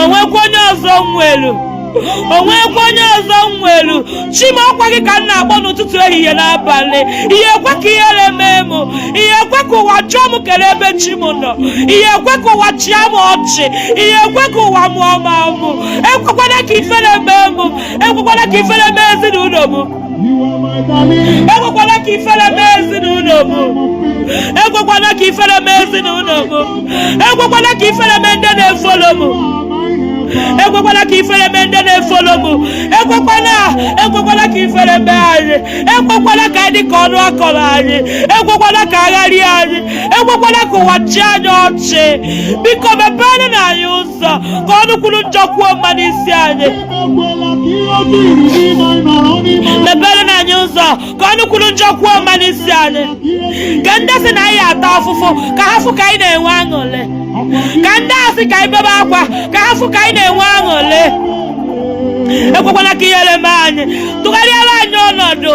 o nwekwa onye ọzọ m nwelu o nwekwa onye ọzọ m nwelu chi m ọkwa gị ka m na-akpọ n'ụtụtụ ehihie n'abalị ị ya-ekwe ka ihere mee m ị ya-ekwe ka ụwa jụọ m kere ebe chi m nọ ị ya-ekwe ka ụwa chịa m ọchị ị ya-ekwe ka ụwa mụọ m amụ ekwekwana ka ifere mee m ekwekwana ka ifere mee ezinụlọ m ekwekwana ka ifere mee ezinụlọ m ekwekwana ka ifere mee ezinụlọ m ekwekwana ka ifere mee ndị na-efolo m ekwekwana ka ifere mee ndị na-efolo m ekwekwana ekwekwana ka ifere mee anyị ekwekwana ka anyị dị ka ọnụ a kọrọ anyị ekwekwana ka agharị anyị ekwekwana ka ụwa chịa anyị ọchị biko mepeerenụ anyị ụzọ ka ọnụ kwuru njọ kwuo mma n'isi anyị meperenụ anyị ụzọ ka ọnụ kwuru njọ kwuo mma n'isi anyị ka ndị sị na anyị ya-ata afụfụ ka ha fụ ka anyị na-enwe aṅụrị ka ndị a sị ka anyị bebe akwa ka ha fụ ka anyị na-enwe aṅụrị ekwekwana ka ihere mee anyị tụgharịara anyị ọnọdụ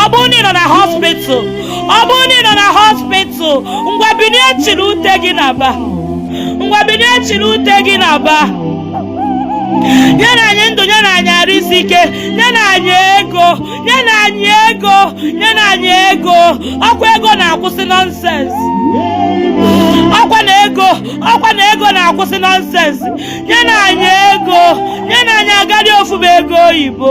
ọ bụrụ na ị nọ na hospital ọ bụrụ na ị nọ na hospital ngwa binie chiri ute gị naba ngwa binie chiri ute gị naba nyenụ anyị ndụ nyenụ anyị arụ isi ike nyenụ anyị ego nyenụ anyị ego nyenụ anyị ego ọkwa ego na-akwụsị nonsense ọkwa na ego ọkwa na ego na-akwụsị nonsense nyenụ anyị ego nyenụ anyị agarị ofu bụ ego oyibo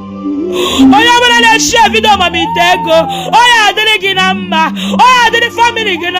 onye ọbụla na-echi video mamite ego ọ ya-adịrị gị na mma ọ ya-adịrị family gị na